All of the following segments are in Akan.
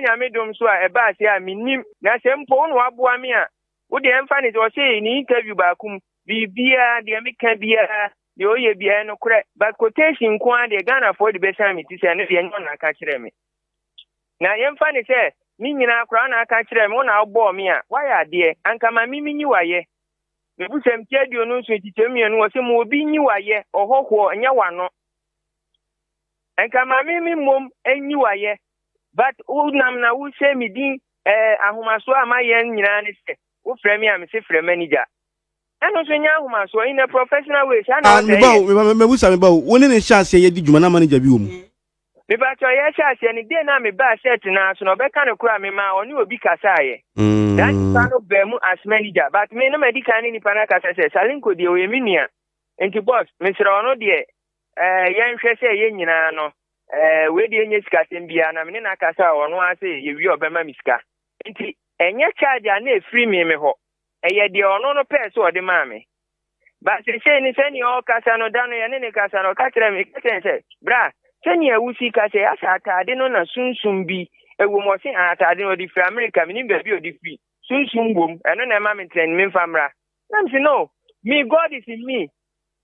Nyame dom so a ɛbaa sɛɛ a mennim na sɛ mpo wo na waboa me a wo deɛ ɛmfa ne sɛ ɔse ne interview baako mu biribiaa deɛ meka biaa deɛ ɔyɛ biaa ɛyɛ nokorɛ but quotation nko ara deɛ Ghanafoɔ de bɛsan me ti sɛ ɛno deɛ ɛnyɛ ɔna aka kyerɛ me na yɛmfa ne sɛ me nyinaa koraa na aka kyerɛ me wo na wobɔɔ me a woayɛ adeɛ anka ma me menyi wayɛ mebusɛm ti aduonu nso nkyekyɛm mmienu wɔ sɛ ma obi nyi wayɛ ɔhɔhoɔ nyɛ wano Nka maame me mmom nyi wayɛ, but wo nam na wo hyɛ me din eh, ahomasoɔ a mayɛ nyinaa ne sɛ wo frɛ me a me se frɛ manager. Ɛno nso nyɛ ahomasoɔ in a professional way saa na ah, ɔsɛ yɛ. Meba o, meba sa meba o, wo ne ne hyɛ aseɛ yɛ di dwuma na manager bi wɔ mu. Meba kyɛ ɔyɛ hyɛ aseɛ ne day na mebaa shirt naa so na ɔbɛka no koraa me maa ɔne obi kasaa yɛ. Mm. Saa nipa no baa mu as manager but me na madi kan ne nipa no akasa sɛ Salinko deɛ ɔyɛ me nua. Nti boss mesrɛ ɔno deɛ Ɛɛ, yɛnhwɛ sɛ yɛn nyinaa no, ɛɛ, wei deɛ nyɛ sikasɛm biara, na me ne no akasa a, ɔno ara sɛ yɛwie a ɔbɛma me sika. Nti, ɛnyɛ charge a na ɛfiri me me hɔ. Ɛyɛ deɛ ɔno no pɛɛ sɛ ɔde maa me. But seesei no, sɛdeɛ ɔrekasa no, da no yɛne no kasa no, ɔka kyerɛɛ me, meka kyerɛɛ no sɛ, Bra, sɛdeɛ wo sika sɛ asɛ ataade no na sunsum bi wɔ mu, ɔse, Ah, ataade no, ɔde firi Amerika, menim baabi a ɔde firi, sunsum wɔ mu, ɛno na ɛma me ntrɛn, memfa mmra. Na mese, No, me God is in me.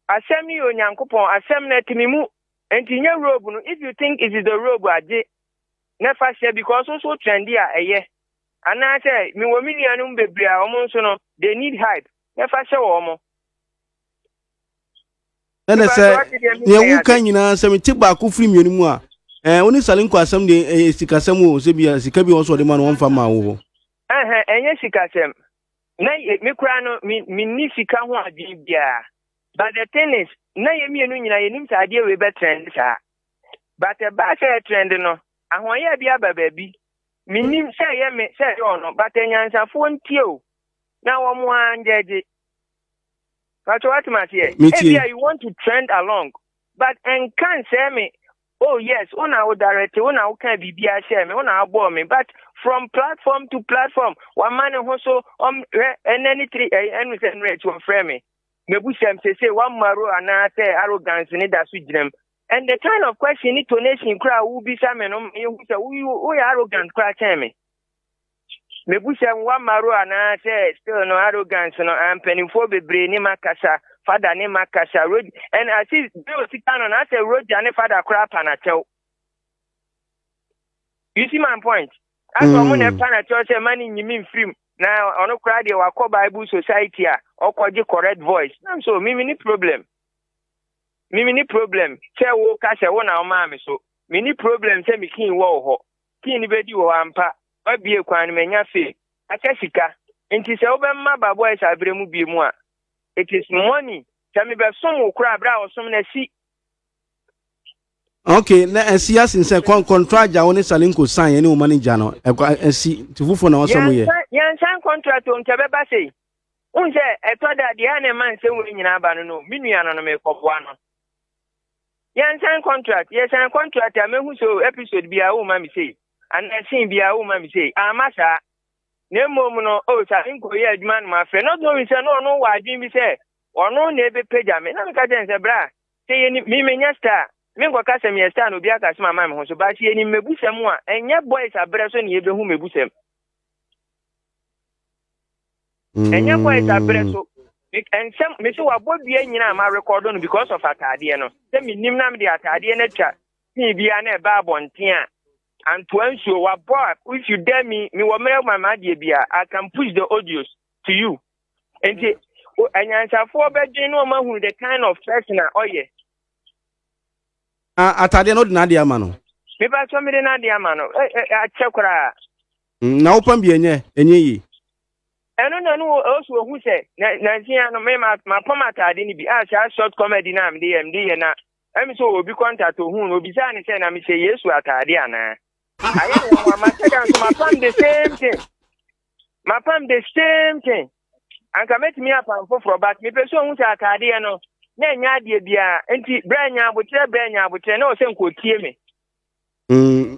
Asɛm no yɛ Onyankopɔn asɛm na ɛte me mu. Enti nyɛ robe no if you think it is the robe a gye na fa hyɛ because wo nso wo trendy a ɛyɛ. Anaa sɛ me wɔ me nuanom bebree a wɔn nso no they need hype na fa hyɛ wɔn. Ɛna sɛ deɛ woka nyinaa sɛ mete baako firi mmienu mu a ɛɛ wo ne salenko asɛm deɛ ɛyɛ sikasɛm o sɛ bia sika bi wɔ so ɔde ma no wɔmfa ma wo hɔ. Ɛhɛn ɛnyɛ sikasɛm. na yɛ me koraa no me menni sika ho adwene biara but the thing is na yɛ mmienu nyinaa yɛnim sɛ adeɛ wei bɛtrɛnde saa but ɛbaa sɛ ɛtrɛnde no ahoɔyɛ bi aba baabi mennim sɛ ɛyɛ me sɛ ɛyɛ ɔno but anyansafoɔ ntie o na wɔn ara ngyɛgye patro atem aseɛ ebia you want to trend along but ɛnka nsɛe me Oh yes, wo na wo directe, wo na wo kaa biribiara hyɛɛ me, wo na wo bɔɔ me, but from platform to platform, wama ne ho so, ɔm, hwɛ, ɛnɛ ne tiri, ɛyɛ, ɛnu sɛ nnura akyi wɔfrɛ me, mebu sɛm sese, wamaro anaa sɛ arrogance ne da so gyinam, and the kind of question ne tonation koraa a wobisa me no ma yɛhu sɛ wo, woyɛ arrogant koraa kyɛn me. Mebisa mu wa maro anaa sɛ still no arrogance no a mpaninfoɔ bebree ne ma kasa fada ne ma kasa rod and as if bɛ o sika no na asɛ roja ne fada kora apa na kyɛw you see my point asɛ ɔmo na ɛpa na kyɛw sɛ ma ne nyimi mfirim na ɔno kora deɛ wakɔ bible society a ɔkɔgye correct voice nam so mimi ne problem mimi ne problem sɛ wo ka sɛ wo na ɔmaa me so mini problem sɛ mekin wɔ hɔ Kii no bedi wɔ hɔ ampa, wabue kwan no manya fame, aka sika, enti sɛ wobɛma ba boys abrɛ mu biemu a it is money. Sɛ me bɛ som wo koraa bere a ɔsom no asi. Ok na asi asin sɛ kɔn kɔntra agya wo ne salinko san yɛ ne wo ma ne gya no ɛkɔ asi ti fofo na ɔsɔ mu yɛ. Yɛn san contract o nka bɛba sɛ yi. Won sɛ ɛtɔ da deɛ a na ɛma nsɛm wei nyinaa ba no no me nua no no mekɔboa no. Yɛn sign contract, yɛ sign contract a mehu so episode bi a woma me sei, anaa scene bi a woma me sei, amma saa. Na mmom no, o oh, saa nko yɛ adwuma no mafrɛ, not knowing sɛ no ɔno wɔ adwene bi sɛ ɔno na ebepagya me, na meka kyɛn sɛ bra, sɛ yɛnim, me menyɛ star, menkɔka sɛ meyɛ star na obi aka sɛm ama me ho so, but yɛnim mebusɛm a, ɛnyɛ boys abrɛ so na yɛbɛhu mebusɛm. ɛnyɛ bɔ ɛda berɛ so nsɛm mese wabɔ dua nyina a marekɔdɔ no because of ataadeɛ no sɛ menim na mede ataadeɛ no atwa pii biara na ɛbaa abɔnten a antoa nsuo wabɔ a if you dare me mewɔ mmerɛ ma maadeɛ biara I can push the audios to you nti anyansafoɔ bɛdwen na ɔma hunu the kind of person a ɔyɛ ataadeɛ no wode n'adeɛ ama no mepa sɛ mede n'adeɛ ama no akyɛ koraa Mm, na wopam bi ɛnyɛ, ɛnyɛ yie. Ɛno na no ɔsu ohu sɛ, na nansi ya no, me ma ma pam ataade no bi a saa short comedy no a mede yɛ mede yɛ na ɛmi sɛ obi kɔntat ohun no obisaa ne sɛ na mehyɛ Yesu ataade anaa. Ayɛ no wɔn ama sɛ da nso ma pam the same thing. Ma pam the same thing. Anka mɛtumi apam foforɔ but mepɛ sɛ ohun sɛ ataadeɛ no na ɛnyɛ adeɛ biara nti berɛ nya abokyerɛ berɛ nya abokyerɛ na ɔsɛ nkotie me. Mm,